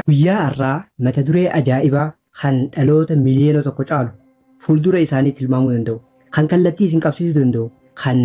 Guyyaa har'aa mata duree ajaa'ibaa kan dhaloota miliyoona tokko caalu fuuldura isaanii tilmaamuu danda'u, kan kallattii isin qabsiisuu danda'u, kan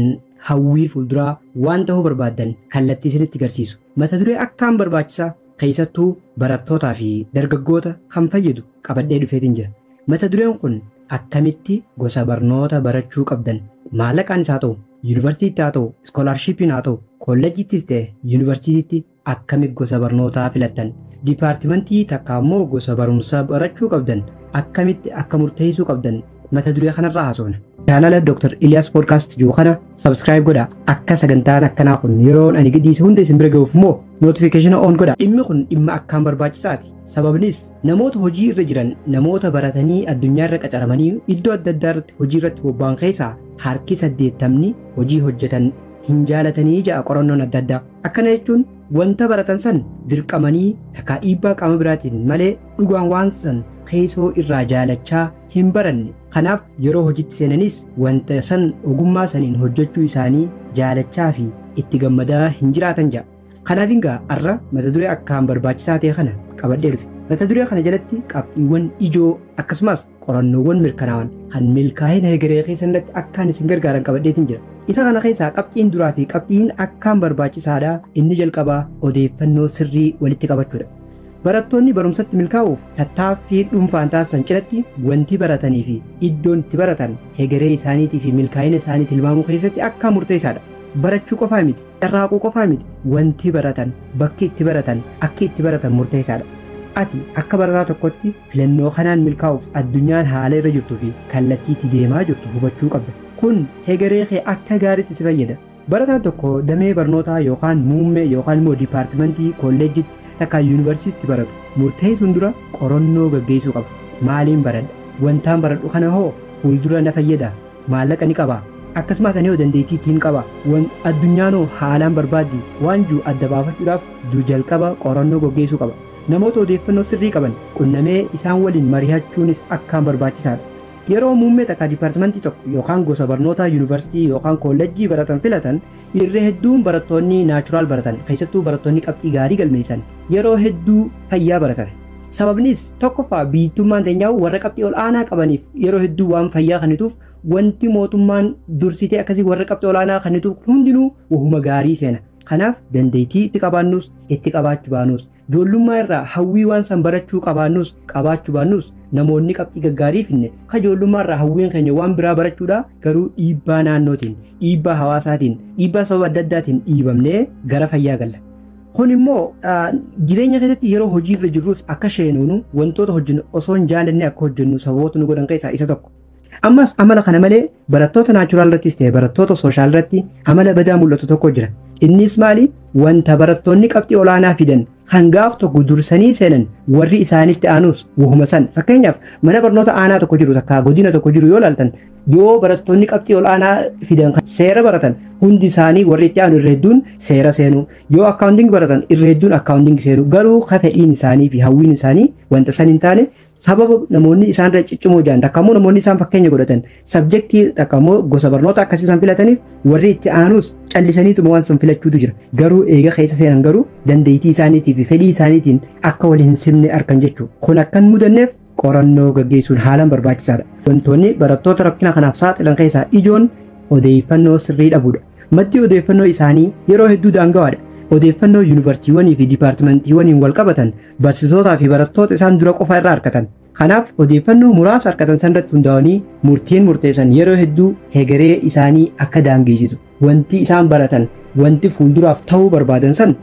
hawwii fuulduraa waan ta'uu barbaaddan kallattii isinitti garsiisu, mata duree akkaan barbaachisaa keessattuu barattootaa fi dargaggoota kan fayyadu qabadhee dhufeetin jira. Mata dureen kun akkamitti gosa barnoota barachuu qabdan maallaqaanis haa ta'u, yunivarsiitiitti haa ta'u, iskoolaarshiippiin haa ta'u, kollejjiittis ta'e yunivarsiitiitti Akkami gosa barnootaa filattan? Dipaartimantii takkaa immoo gosa barumsaa barachuu qabdan akkamitti akka murteessuu qabdan mata duree kanarraa haasofna. Chaanala Dr. Ilyaas Podcast jiru kana subscribe godha. Akka sagantaan akkanaa kun yeroon ani gadhiise hunda isin bira ga'uuf immoo notification on godha. Dhimmi kun dhimma akkaan barbaachisaati. Sababnis namoota hojii irra jiran namoota baratanii addunyaa irra qacaramanii iddoo adda addaa irratti hojii irratti bobba'an keessaa harki saddeettamni hojii hojjetan hin jaalatanii ja'a qorannoon adda addaa. Akkana jechuun wanta baratan san dirqamanii takkaa dhiibbaa qaama biraatiin malee dhugaan waan san keessoo irraa jaalachaa hin baranne. Kanaaf yeroo hojitti seenanis wanta san ogummaa saniin hojjechuu isaanii jaalachaa fi itti gammadaa hin jiraatan ja'a. Kanaaf egaa har'a mata duree akkaan barbaachisaa ta'e kana qabadhee dhufe. Mata duree kana jalatti qabxiiwwan ijoo akkasumas Qorannoowwan mirkanaa'an kan milkaa'ina hegeree keessanirratti akkaan isin gargaaran qabadheetiin jira. Isa kana keessaa qabxiin duraa fi qabxiin akkaan barbaachisaadha inni jalqabaa odeeffannoo sirrii walitti qabachuudha. Barattoonni barumsatti milkaa'uuf tattaaffii dhuunfaan taasisan cinatti wanti baratanii fi iddoon itti baratan hegeree isaaniitii fi milkaa'ina isaanii tilmaamuu keessatti akkaan murteessaadha. Barachuu qofaa miti, carraaquu qofaa miti, wanti baratan, bakki itti baratan, akki itti baratan murteessaadha. Ati akka barataa tokkotti Filannoo kanaan milkaa'uuf addunyaan haala irra jirtuu fi kallattii itti deemaa jirtu hubachuu qabda. Kun hegeree kee akka gaariitti si fayyada. Barataan tokko damee barnootaa yookaan muummee yookaan immoo dipaartimantii kolleejjiitti takkaa yuunivarsiitiitti baratu murteessuun dura qorannoo gaggeessuu qaba. Maaliin baradha? Wantaan baradhu kana hoo fuuldura na fayyadaa? Maallaqa ni qabaa? Akkasumaas ani hoo dandeettii ittiin qabaa? Wan addunyaan hoo haalaan barbaaddii? Waan jiru adda baafachuudhaaf du jalqaba qorannoo gaggeessuu qaba. Namoota odeeffannoo sirrii qaban qunnamee isaan waliin marihachuunis akkaan barbaachisaadha. Yeroo muummee takka dipartimantii tokko yookaan gosa barnootaa yunivarsitii yookaan koollejjii baratan filatan irra hedduun barattoonni naachuraal baratan keessattuu barattoonni qabxii gaarii galmeessan yeroo hedduu fayyaa baratan. Sababnis tokkoffaa biyyttummaan teenyaa'uu warra qabxii ol aanaa qabaniif yeroo hedduu waan fayyaa kennituuf wanti mootummaan dursitee akkasii warra qabxii ol aanaa kennituuf hundinuu wahuma gaarii seena. Kanaaf dandeettii itti qabaannus, itti qabaachu baanus, joollummaa irraa hawwii waan san barachuu qabaannus, qabaachu baannus namoonni qabxii gaggaarii finne ka joollummaa irraa hawwiin keenya waan biraa barachuudha garuu dhiibbaa naannootiin, dhiibbaa hawaasaatiin, dhiibbaa sababa adda addaatiin dhiibamnee gara fayyaa galla. Kun immoo jireenya keessatti yeroo hojii irra jirrus akka sheenuunu wantoota hojjennu osoo hin jaalanne akka hojjennu sababoota nu godhan keessaa isa tokko. Ammas amala kana malee barattoota naachuraal irrattis ta'e barattoota sooshaal irratti amala badaa mul'atu tokko jira. Innis maali? Wanta barattoonni qabxii olaanaa fidan kan gaaf tokko dursanii seenan warri isaanitti aanus wahuma san. Fakkeenyaaf mana barnoota aanaa tokko jiru takka godina tokko jiru yoo ilaaltan yoo barattoonni qabxii olaanaa fidan kan seera baratan hundi isaanii warri itti aanu irra hedduun seera seenu. Yoo akkaawunting baratan irra hedduun akkaawunting seenu. Garuu ka fedhiin isaanii fi hawwiin isaanii wanta san hin taane Sababa namoonni isaan irra ciccimoo jiran takka immoo namoonni isaan fakkeenya godhatan sabjektii takka immoo gosa barnoota akkasii isaan filataniif warri itti aanuus callisaniituma waan san filachuutu jira. Garuu eega keessa seenan garuu dandeettii isaaniitii fi fedhii isaaniitiin akka wal hin simne arkan jechuudha. Kun akka hin mudanneef qorannoo gaggeessuun haalaan barbaachisaadha. Wantoonni barattoota rakkina kanaaf saaxilan keessaa ijoon odeeffannoo sirrii dhabuudha. Maddi odeeffannoo isaanii yeroo hedduu daangawaadha. Odeeffannoo yuunivarsiitiiwwanii fi diipaartimentiiwwaniin wal qabatan Barsiisootaa fi barattoota isaan dura qofa irraa argatan. Kanaaf odeeffannoo muraasa argatan sanirratti hundaa'anii murtiin murteessan yeroo hedduu hegeree isaanii akka daangeessitu. Wanti isaan baratan, wanti fuulduraaf ta'uu barbaadan san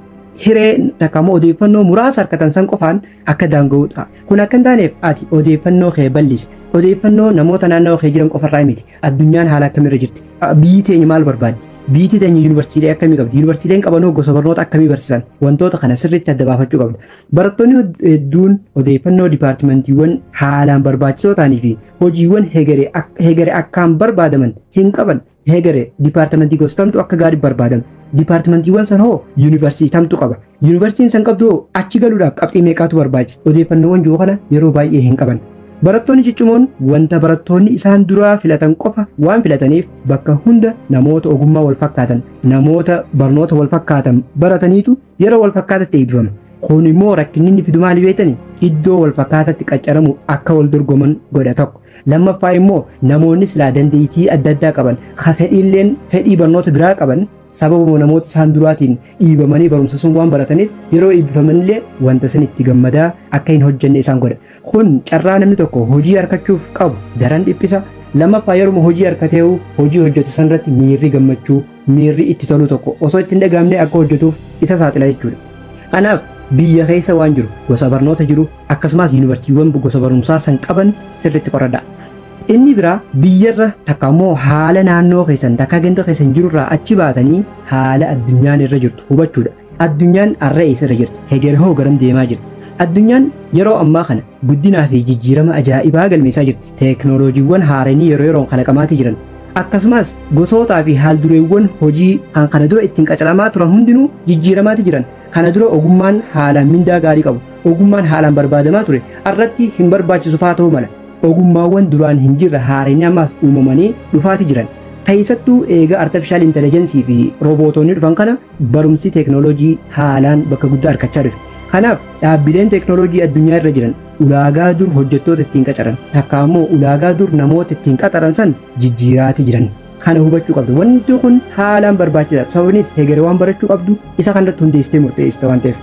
hiree takka immoo odeeffannoo muraasa argatan san qofaan akka daanga'udha. Kun akka hin taaneef ati odeeffannoo kee bal'isi. Odeeffannoo namoota naannawa kee jiran qofarraa miti. Addunyaan haala akkamii irra jirti? Biyyi teenya maal barbaaddi? Biyyi teenya yuunivarsiitiilee akkamii qabdi? Yuunivarsiitiileen qabanoo gosa barnoota akkamii barsiisan? Wantoota kana sirriitti adda baafachuu qabda. Barattoonni hedduun odeeffannoo dipaartimentiiwwan haalaan barbaachisoo ta'anii fi hojiiwwan hegere akkaan barbaadaman hin qaban. Hegere dipaartimentii gosa kamtu akka gaarii barbaadama? Dipaartimentiiwwan san hoo yuunivarsiitii kamtu qaba? Yuunivarsiitiin san qabdu hoo achi galuudhaaf qabxii meeqaatu barbaachisa? Odeeffannoowwan jiru kana yeroo baay'ee hin qaban. Barattoonni ciccimoon wanta barattoonni isaan duraa filatan qofa waan filataniif bakka hunda namoota ogummaa wal fakkaatan, namoota barnoota wal fakkaatan barataniitu yeroo wal fakkaatatti eebbifama. Kun immoo rakkinni inni fidu maali beektanii? Iddoo wal fakkaatatti qaccaramuuf akka wal dorgoman godha tokko. Lammaffaa immoo namoonni silaa dandeettii adda addaa qaban, ka fedhiilleen fedhii barnoota biraa qaban Sababuma namoota isaan duraatiin dhiibamanii barumsa sun waan barataniif yeroo eebbifamanillee wanta san itti gammadaa akka hin hojjenne isaan godha. Kun carraa namni tokko hojii arkachuuf qabu daran dhiphisa. Lammaffaa yeruma hojii harkatee'u hojii hojjetu sanirratti miirri gammachuu, miirri itti toluu tokko osoo itti hin dhagahamne akka hojjetuuf isa saaxila jechuudha. Kanaaf biyya keessa waan jiru, gosa barnoota jiru, akkasumas yuunivarsiitiiwwan gosa barumsaa san qaban sirriitti qoradhaa. Inni biraa biyyarra takka ammoo haala naannoo keessan takka ganda keessan jirurraa achi baatanii haala addunyaan irra jirtu hubachuudha. Addunyaan har'a eessarra jirti? Heger hoo garam deemaa jirti? Addunyaan yeroo ammaa kana guddinaa fi jijjiirama ajaa'ibaa galmeessaa jirti. Teeknooloojiiwwan haaranii yeroo yeroon kalaqamaatii jiran. Akkasumas gosootaa fi haaldureewwan hojii kan kana dura ittiin qacaramaa turan hundinuu jijjiiramaatii jiran. Kana dura ogummaan haalaan mindaa gaarii qabu. Ogummaan haalaan barbaadamaa ture. Har'atti hin barbaachisu fa'aa ta'uu mala. Ogummaawwan duraan hin jirre haarayni ammaas uumamanii dhufaati jiran. Keessattuu eega Artefishaal Intelejensii fi Roobootoonni dhufan kana barumsi teeknooloojii haalaan bakka guddaa arkachaa dhufe. Kanaaf dhaabbileen teeknooloojii addunyaa irra jiran ulaagaa dur hojjettoota ittiin qacaran takkaa immoo ulaagaa dur namoota ittiin qaxaran san jijjiiraati jiran. Kana hubachuu qabda. Wanti kun haalaan barbaachisaadha. Sababinis hegere waan barachuu qabdu isa kanarratti hundeessitee murteessita waan ta'eef.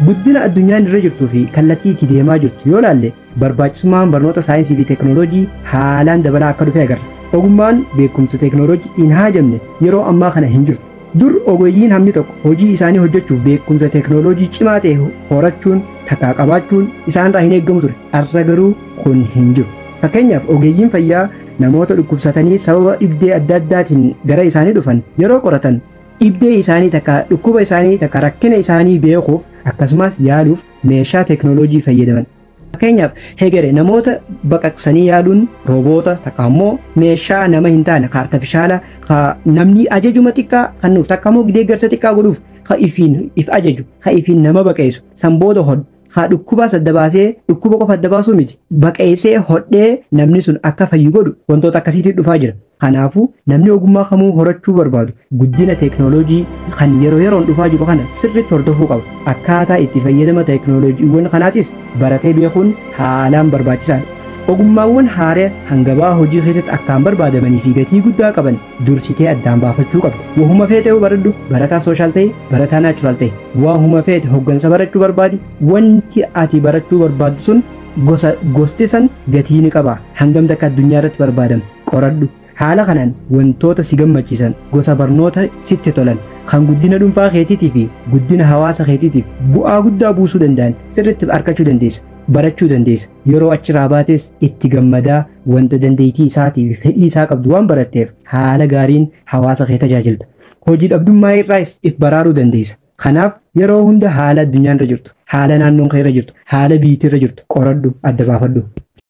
Guddina addunyaan irra jirtuu fi kallattii itti deemaa jirtu yoo laalle Barbaachisummaan barnoota saayinsii fi teeknooloojii haalaan dabalaa akka dhufe agarra. Ogummaan beekumsa teeknooloojii hin haajamne yeroo ammaa kana hin jirtu. Dur ogeeyyiin hammi tokko hojii isaanii hojjechuuf beekumsa teeknooloojii cimaa ta'e horachuun takkaa qabaachuun isaanirraa hin eegamu ture. Har'a garuu kun hin jiru. Fakkeenyaaf ogeeyyiin fayyaa namoota dhukkubsatanii sababa dhibdee adda addaatiin gara isaanii dhufan yeroo qoratan dhibdee isaanii takkaa dhukkuba isaanii takkaa rakkina isaanii beekuuf akkasumaas yaaluuf meeshaa teeknooloojii fayyadaman. Fakkeenyaaf hegere namoota baqaqsanii yaaduun rooboota takka ammoo meeshaa nama hin taane ka artifishaala ka namni ajajuma xiqqaa kennuuf takka ammoo deeggarsa xiqqaa godhuuf ka ifiin if ajaju ka ifiin nama baqeessu san booda hodhu haa dhukkubaas adda baasee dhukkuba qofa adda baasuu miti baqeessee hodhee namni sun akka fayyu godhu wantoota akkasiitii dhufaa jira. Kanaafuu, namni ogummaa kamuu horachuu barbaadu guddina teeknooloojii kan yeroo yeroon dhufaa jiru kana sirriitti hordofuu qaba. Akkaataa itti fayyadama teeknooloojiiwwan kanaatis baratee beekuun haalaan barbaachisaadha. Ogummaawwan haaraya kan gabaa hojii keessatti akkaan barbaadamanii fi gatii guddaa qaban dursitee addaan baafachuu qabda. Wahuma feeteehu baradhu, barataa sooshaal ta'i, barataa naachuraal ta'i. Wahuma feete hoggansa barachuu barbaadi, wanti ati barachuu barbaaddu sun gosa gosti san gatii ni qaba, hangam takka addunyaa irratti barbaadama. Qoradhu. Haala kanaan wantoota si gammachiisan, gosa barnoota sitti tolan, kan guddina dhuunfaa keetiitii fi guddina hawaasa keetiitiif bu'aa guddaa buusuu danda'an sirriitti arkachuu dandeessa, barachuu dandeessa. Yeroo achirraa baates itti gammadaa wanta dandeettii isaatii fi fedhii isaa qabdu waan baratteef haala gaariin hawaasa kee tajaajilta. Hojii dhabdummaa irraayis if baraaruu dandeessa. Kanaaf yeroo hunda haala addunyaan irra jirtu, haala naannoon kee irra jirtu, haala biyyittii irra jirtu qoradhu, adda baafadhu.